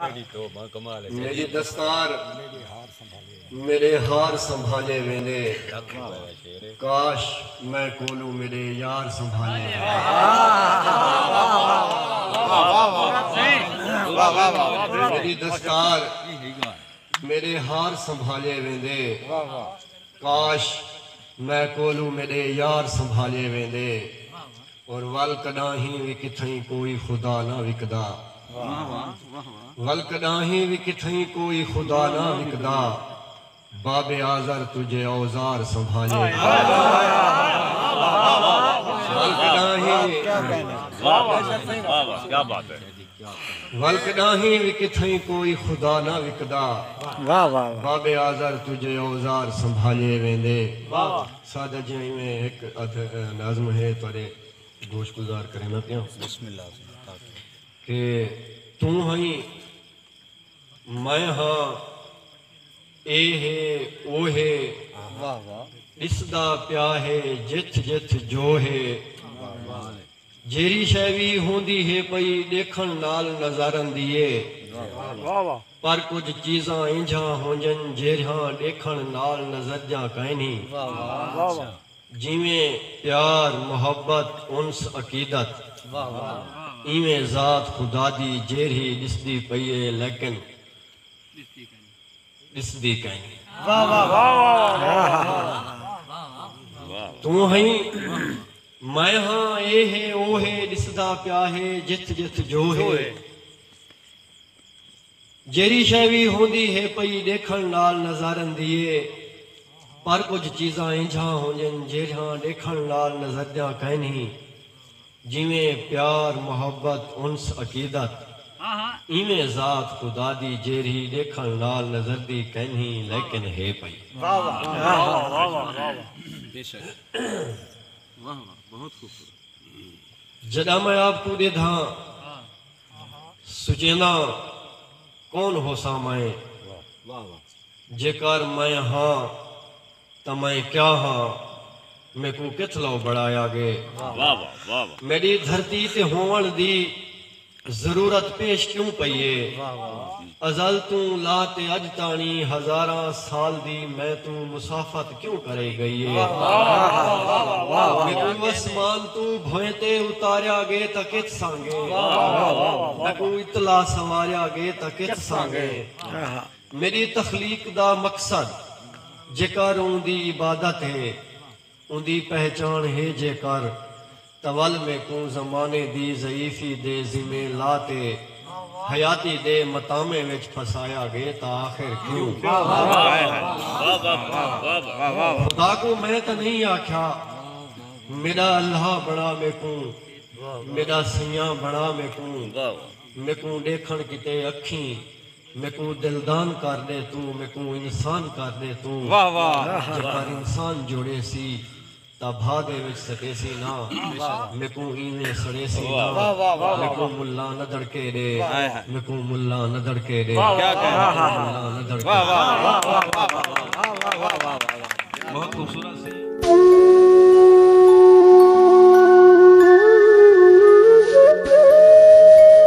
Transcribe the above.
میݙی دستار میݙے ہار سنبھالے ویندے کاش میں کولوں میݙے یار سنبھالے میݙی دستار میݙے ہار سنبھالے ویندے کاش میں کولوں میݙے یار سنبھالئے ویندے اور ول کݙاہیں وی کتھئیں کوئی خدا نہ وکدا ول کݙاہیں وی کتھئیں کوئی خدا نہ وکدا باب آزر تجھے اوزار سنبھالئے ویندے ول کݙاہیں وی ول کݙاہیں وی کتھائیں کوئی خدا نہ وکدا بابے آزر تجھے اوزار سنبھالے ویندے سادہ جیاں ایویں ہک ادھ نظم ہے تہاݙے گوش گزار کریندا پیاں کہ توں ہئیں میں ہاں اے ہے او ہے ݙسدا پیا ہے جتھ جتھ جو ہے جیرھی شے وی ہوندی ہے پئی ڈیکھن نال نظارندی اے پر کجھ چیزاں اینجھاں ہونجن جیرھیاں ڈیکھن نال نظرجاں کائنی جیویں پیار محبت انس عقیدت ایویں ذات خدادی جیرھی ڈسدی پئی اے لیکن ڈسدی کائیں توں ہئیں میں ہاں اے ہے او ہے ڈسدا پیا ہے جتھ جتھ جو ہے جیرھی شے وی ہوندی ہے پئی ڈیکھن نال نظارن دی اے پر کجھ چیزاں اینجھاں ہونجن جیرھاں ڈیکھن نال نظردیاں کائنہیں جیویں پیار، محبت، انس، عقیدت، ایویں ذات خدا دی جیرھی ڈیکھنڑ نال نظردی کینھی لیکن ہے پئی۔ جڈاں میں آپ کوں ڈیدھاں سچینداں کون ہوساں میں جیکار میں ہاں۔ تاں میں کیا ہاں میکوں کتھ لو بنڑایا گے۔ میڈی دھرتی تے ہوونڑ دی ضرورت پیش کیوں پئی اے۔ ازل توں لا تے اج تانڑی ہزاراں سال دی میں توں مسافت کیوں کرئی گئی اے۔ میکوں اسمان توں بھوئیں تے اتاریا گے تاں کتھ سانگے۔ میکوں اتلا سنواریا گے تاں کتھ سانگے۔ میݙی تخلیق دا مقصد جیکر اوندی عبادت ہے، اوندی پہچاݨ ہے جیکر تاں ول میکوں زمانے دی ضعیفی دے ذمے لا تے حیاتی دے متامے وچ پھسایا ڳئے تاں آخر کیوں؟ خدا کوں میں تاں نئیں آکھیا میݙا اللہ بݨا میکوں میݙا سئیاں بݨا میکوں میکوں ݙیکھݨ کیتے اکھیں میکوں دلدان کر ݙے توں میکوں انسان کر ݙے توں جے پر انسان جوڑیسی تاں بھا دے وچ سٹیسی نا میکوں اینویں سڑیسی نا میکوں ملاں نہ دڑکے ݙے میکوں ملاں نہ دڑکے ݙے ملاں نہ دڑکے ݙے۔